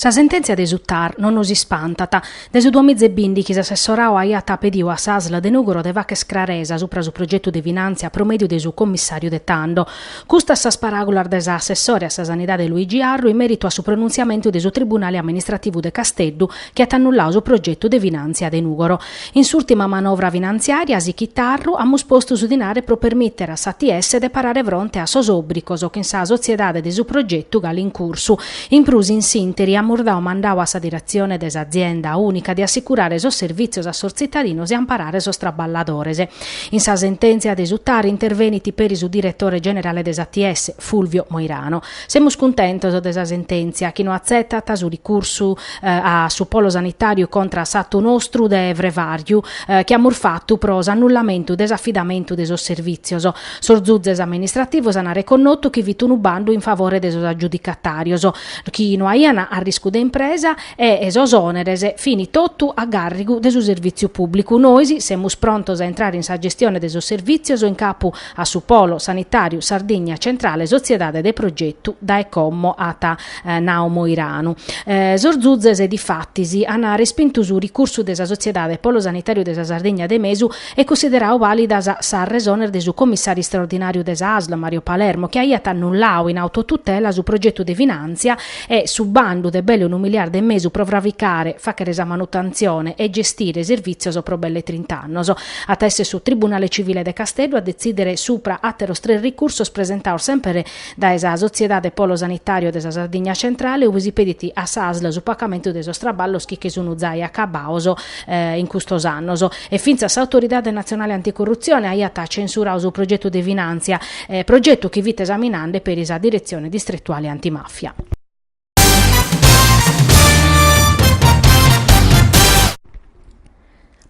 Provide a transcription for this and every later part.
Sa sentèntzia de su TAR non nos ispantat. De su duamiza e bìndichi s'assessoradu aiat pedidu a s'Asl de Nùgoro de fagher craresa subra su progetu de finàntzia pro mèdiu de su commissàriu de tando. Custas sas paràgulas de s'assessore a sa Sanidade Luigi Arru in mèritu a su pronuntziamentu de su Tribunale Amministrativu de Casteddu chi at annulladu su progetu de finàntzia de Nùgoro In s'ùrtima manovra finantziària, sichit Arru, amus postu su dinare pro permìtere a s'ATS de parare fronte a sos òbrigos chin sa sotziedade de su progetu galu in cursu. In prus, in s'ìnteri, amus dadu mandadu a sa diretzione de s'azienda ùnica de assicurare sos servìtzios a sos tzitadinos e amparare sos traballadores. In sa sentèntzia de su TAR intervenit peri su diretore generale de s'ATS, Fulvio Moirano. Semus cuntentos de sa sentèntzia chi no atzetat su ricursu a su polo sanitàriu contra a s'atu nostru de Frevàriu chi amus fatu pro s'annullamentu de s'afidamentu de sos servìtzios. Sos zuzes amministrativos an arreconnotu chi fit unu bandu in favore de sos agiudicatàrios chi no aian arriscu de impresa e sos òneres fin totu a gàrrigu de su servìtziu pùblicu. Nois semus prontos a intrare in sa gestione de sos servìtzios in capu a su Polo Sanitàriu Sardigna Centrale sotziedade de progetu, dae como at nau Moiranu. Sos zuzes, difatis, an respintu su ricursu de sa sotziedade Polo Sanitàriu de sa Sardigna de Mesu e cunsideradu vàlidas sas resones de su comissàriu istraordinàriu de sa ASL, Mario Palermo, chi aiat annulladu in autotutela su progetu de finàntzia e su bandu de belle unu miliardu e mesu pro fravicare, fàghere sa manutentzione e gestire servìtzios pro belle trint'annos. At a èssere su Tribunale Civile de Casteddu a detzìdere supra àteros tres ricursos presentados semper dae sa Sotziedade Polo Sanitàriu de sa Sardigna Centrale ube si pedit a s'ASL su pacamentu de sos traballos chi che sun zai acabados in custos annos e fintzas s'Autoridade Natzionale Anticurrutzione aiat censuradu su progetu de finàntzia, progetu chi fit esaminande peri sa Diretzione Distretuale Antimàfia.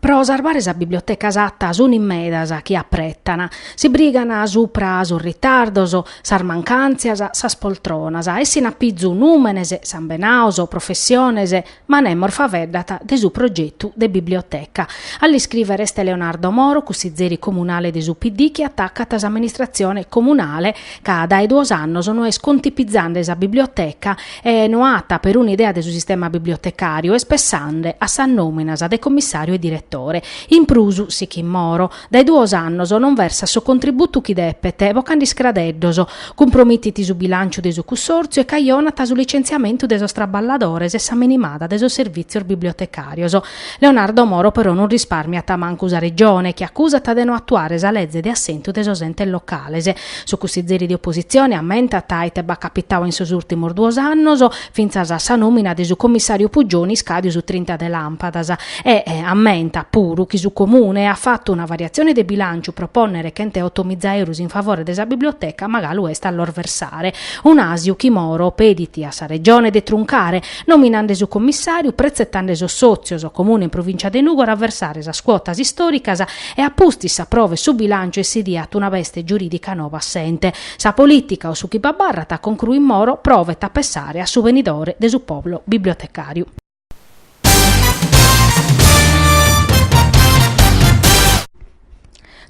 Pro sarbare sa biblioteca Satta sun in medas chi apretan, si brigan supra sos ritardos, sas mancàntzias, sas poltronas, essin a pizu nùmenes, sambenados, professiones, Ma nemos faveddat de su progetu de biblioteca. A l'iscriver est Leonardo Moro, cussizeri comunale de su PD chi atacat s'amministratzione comunale ca dae duos annos no est contipizande sa biblioteca e no at peruna idea de su sistema bibliotecàriu, est pessande a sas nòminas de commissàriu e diretore. In prus, sichit Moro, Dae duos annos non versat su contributu chi depet, bocande iscradeddos, cumpromitit su bilànciu de su cussòrtziu e cajonat su licentziamentu de sos traballadores e sa menimada de sos servìtzios bibliotecàrios. Leonardo Moro però non rispàrmiat mancu sa Regione, chi acusat de no atuare sa leze de assentu de sos entes locales. Su cussizeri de opositzione ammentat ite b'at capitadu in sos ùrtimos duos annos, fintzas a sa nòmina de su commissàriu Puggioni iscàdiu su trinta de làmpadas e ammentat puru chi su Comune at fatu una variatzione de bilànciu pro pònnere chent'e oto miza eurus in favore de sa biblioteca ma galu est a los versare un'àsiu chi Moro pedit a sa Regione de truncare nominande su commissàriu pretzetande sos sòtzios Comune e Provìncia de Nùgoro a versare sas cuotas istòricas e a pustis s'aprovet su bilànciu e si diat una beste giurìdica noba assente Sa polìtica o su chi b'abarrat concruit Moro provet a pessare a su benidore de su pòbulu bibliotecàriu.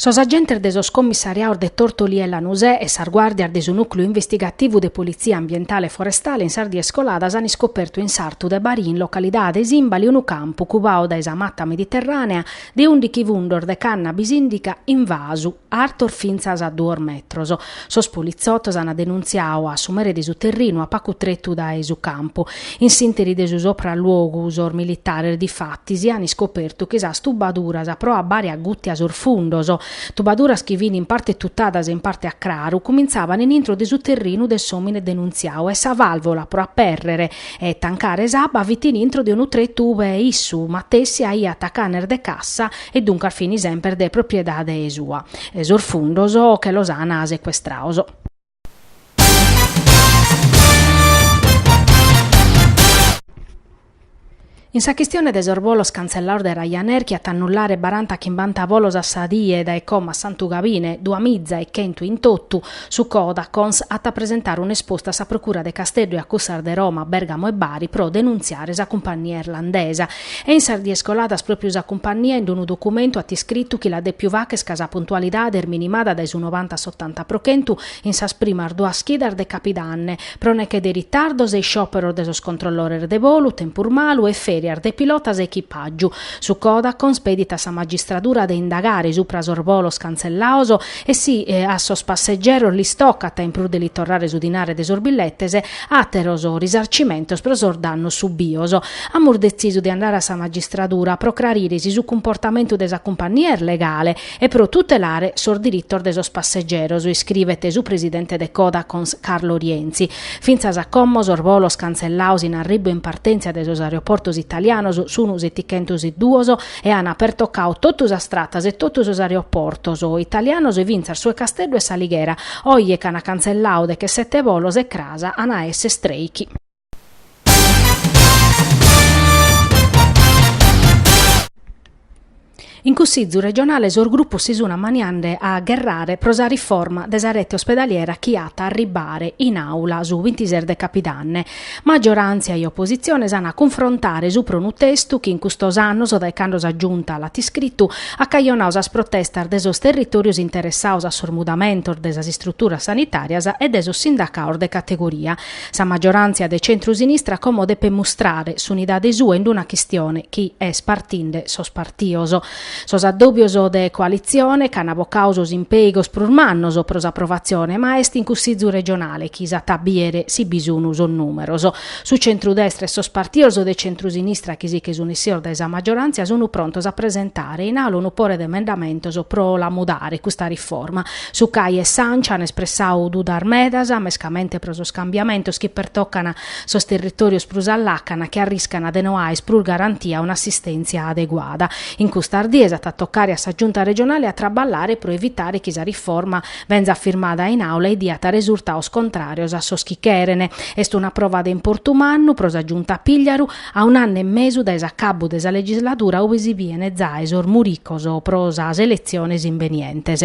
Sos agentes de sos commissariados de Tortolì e Lanusè e sas guàrdias de su Nùcleu Investigativu de Politzia Ambientale e Forestale in sas dies coladas an iscopertu in sartu de Barì in localidade Sìmbali unu campu cubadu dae sa mata mediterrànea de ùndighi fundos de cannabis ìndica in vasu artos fintzas a duos metros. Sos politzotos ant denuntziadu a su mere de su terrinu, a pagu tretu dae su campu, in s'interi de su sopralluogu, sos militares difatis ant iscopertu chi sas tubaduras pro abbare a gùtia sos fundos, tubaduras chi fin in parte tutadas e in parte a craru, cumintzavan in intro de su terrinu de s'òmine denuntziadu e sa vàlvola pro apèrrere e tancare s'abba fit in intro de unu tretu ue issu matessi aiat atacu canes de cassa e duncas fin semper de propriedade sua, e sos fundos che los an secuestrados. In sa chistione de sos bolos cantzellados de Ryanair chi at a annullare baranta chimbanta bolos a sa die dae como a Santu Gabine, duas miza e chentu in totu, su Codacons at a presentare un'esposta a sa procura de Casteddu e a cussas de Roma, Bèrgamo e Bari pro denuntziare sa cumpannia irlandesa, E in sas dies coladas pròpiu sa cumpannia in unu documentu at iscritu chi l'at dèpiu fàghere ca sa puntualidade est minimada dae su novanta a s'otanta pro chentu in sas primas duas chidas de capidanne, pro neche de ritardos e isciòperos de sos controllores de volu, tempus malu e fèrias de pilotas e echipàgiu. Su Codacons pedit a sa magistradura de indagare subra sos volos cantzellados e si a sos passegeros lis tocat, in prus de li torrare su dinare de sos billetes, Àteros risarcimentos pro sos dannos subios. Amus detzisu de andare a sa magistradura pro crarire si su cumportamentu de sa cumpannia est legale e pro tutelare sos diritos de sos passegeros, iscrivet su presidente de Codacons Carlo Rienzi. Fintzas a como sos bolos cantzellados in arribu e in partèntzia de sos aeroportos italianos sun setighentos e duos, ch'ana pertocau totu sas tratas e totu sos aeroportos italianos, fintzas su 'e Casteddu e s'Alighera, oje ch'ana canzellau de che sette volos e cras ana a esse treichi. In Cussizu regionale sos grupos si sun amaniande a gherrare pro sa riforma de sa rete ospedaliera chi at a arribare in aula su bintises de capidanne, Maggiorantzia e oppositzione s'an a cunfrontare supra 'e unu testu chi in custos annos, dae cando sa Giunta l'at iscritu, at cajonadu sas protestas de sos territòrios interessados a sos mudamentos de sas istruturas sanitàrias e de sos sindacados de categoria. Sa maggiorantzia de centru-sinistra como depet mustrare s'unidade sua in una chistione chi est partinde sos partidos. Sos addòbios de coalitzione che an bocadu sos impèigos prus mannos pro s'aprovatzione, ma est in Cussìgiu regionale chi s'at a bìdere si bi sun sos nùmeros. Su centrudestra e sos partidos de centrusinistra chi si che sun issidos dae sa maggioràntzia sun prontos a presentare in aula unu pore de emendamentos pro la mudare custa riforma. Su Cal e s'Anci an espressadu dudas medas, mescamente pro sos cambiamentos chi pertocan sos territòrios prus a làcana chi arriscana de no aer prus garantida una assistèntzia adeguada. In custas dies at a tocare a sa Giunta regionale a traballare pro evitare chi sa riforma benzat firmada in Àula e diat resurtados contràrios a sos chi cheren. Est una prova de importu mannu pro sa Giunta Pigliaru, a un'annu e mesu dae s'acabbu de sa legisladura ue si biene zae sos muricos pro sas eletziones imbenientes.